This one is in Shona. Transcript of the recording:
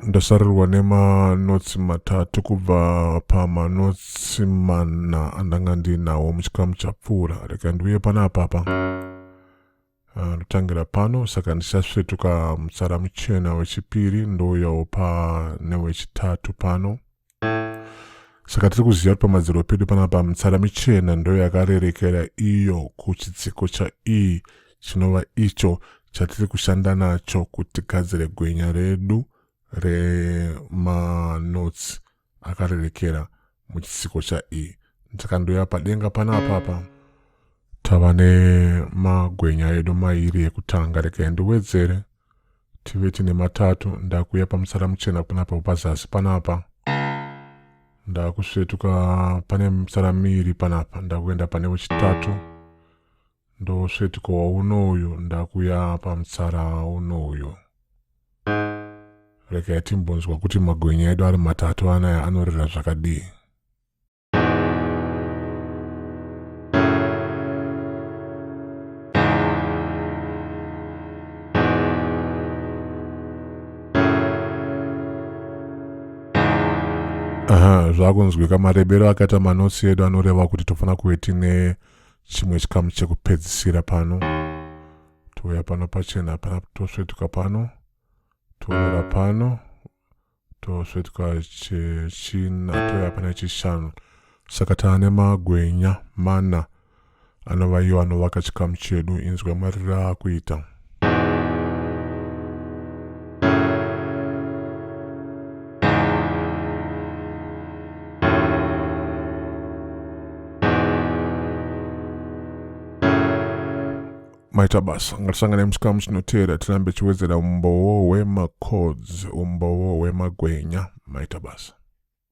ndasarirwa nemanotsi matatu kubva pamanotsi mana andanga ndinawo muchikamu chapfuura reka ndiuye panapa pa Ah, ndotangira pano saka ndichasvetuka mutsara muchena wechipiri ndouyawo pane wechitatu pano saka tiri kuziva kuti pamadziro pedu panapa mitsara michena ndo yakarerekera iyo kuchitsiko cha e chinova icho chatiri kushanda nacho kuti gadzire gwenya redu remanotsi akarerekera muchisiko chaEe ndakandouya padenga pana apapa tava nemagwenya edu mairi ekutanga rekai ndiwedzere tive tine matatu ndakuuya pamutsara muchena panapa pazasi panapa ndakusvetuka pane mutsara miiri panapa ndakuenda pane wechitatu Ndosvetika waunouyo ndakuya pamutsara unouyo. Rekai timbonzwa kuti magwenya edu ari matatu anaya anorira zvakadii. zvakunzwika marebero akaita manotsi edu anoreva kuti tofanira kuve tine chimwe chikamu chekupedzisira pano touya pano pachena hapana tosvetuka pano toonera pano tosvetuka chechina touya pana chishanu saka taane magwenya mana anova iyo anovaka chikamu chedu inzwa mariro akuita maita basa ngatisangane musikamu chinoteera tirambe chiwedzera umbowo wemacods umbowo wemagwenya maita basa